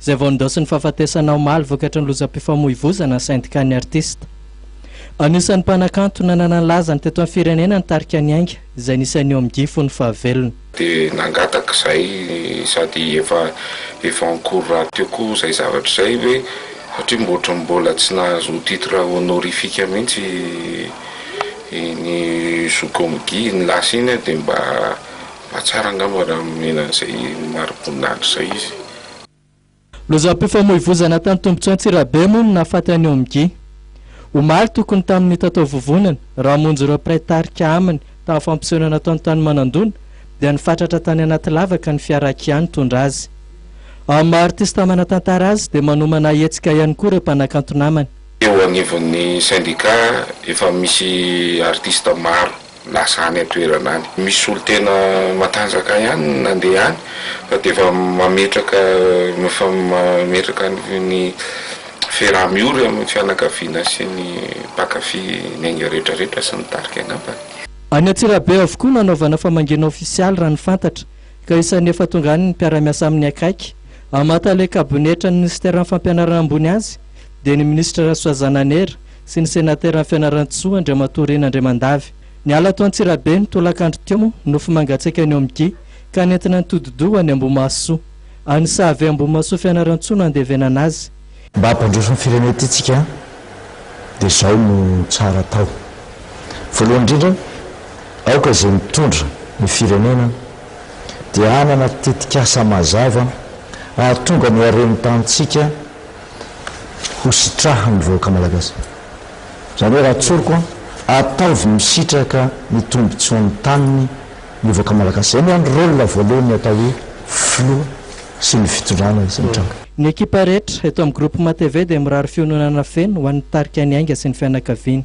izay vao nindaosin'ny fahafatesana omaly vokatry ny lozam-pifamoivozana sendikàn'ny artista. Anisan'ny mpanakanto nanana ny lazany teto amin'ny firenena ny tarika Ny Ainga izay nisy an'i Omg fony fahavelony. Dia nangataka izay sady efa efa en cours rahateo koa izay zavatra izay hoe satria mbo ohatran'ny mbola tsy nahazo titre honorifique mihitsy iny Zoky Omg iny lasa iny dia mba Mba tsara angamba raha nomena an'izay mariboninahitra izay izy. Lozam-pifamoivozana tany Tombotsoa Antsirabe moa no nahafaty an'i Omgi. Omaly tokony tamin'ny tatao vovonana, raha hamonjy ireo mpiray tarika aminy tamin'ny fampisehoana nataony tany Manandona dia nifatratra tany anaty lavaka ny fiara Kia nitondra azy. Amin'ny maha artista manan-tantara azy dia manomana hetsika ihany koa ireo mpanakanto namany. Eo anivon'ny sendika efa misy artista maro lasa any an-toerana any. Misy olo tena matanjaka ihany no nandeha any fa dia efa mametraka efa mametraka ny fera miory amin'ny fianakaviana sy ny mpankafy ny ainga rehetra rehetra sy ny tarika angambany. Any Antsirabe avokoa no hanaovana famangiana ofisialy raha ny fantatra ka isan'ny efa tonga any ny mpiara-miasa amin'ny akaiky. Hamata ilay kabonetran'ny minisiteran'ny fampianarana ambony azy dia ny minisitra Rasoa Zananera sy ny Senatera Fianarantsoa Andriamatoa Rina Andriamandavy. Niala ato Antsirabe ny tolakandro teo, nofy mangatsiaka ny Omgi, ka nentina nitodi-doha ho any Ambohimahasoa. Any Sahave Ambohimahasoa Fianarantsoa no andevenana azy. Mba hampandroso ny firenena ity tsika dia izao no tsara atao. Voalohany indrindra, aoka izay mitondra ny firenena dia hanana tetikasa mazava hahatonga ny haren'ny tanintsika ho sitrahan'ny vahoaka Malagasy. Izany hoe raha tsoriko an, ataovy misitraka ny tombotsoan'ny taniny ny vahoaka Malagasy. Izay miandry rôle voalohan'ny atao hoe filoha sy ny fitondrana izay mitranga. Ny ekipa rehetra eto amin'ny Groupement TV dia mirary fiononana feno ho an'ny tarika Ny Ainga sy ny fianakaviany.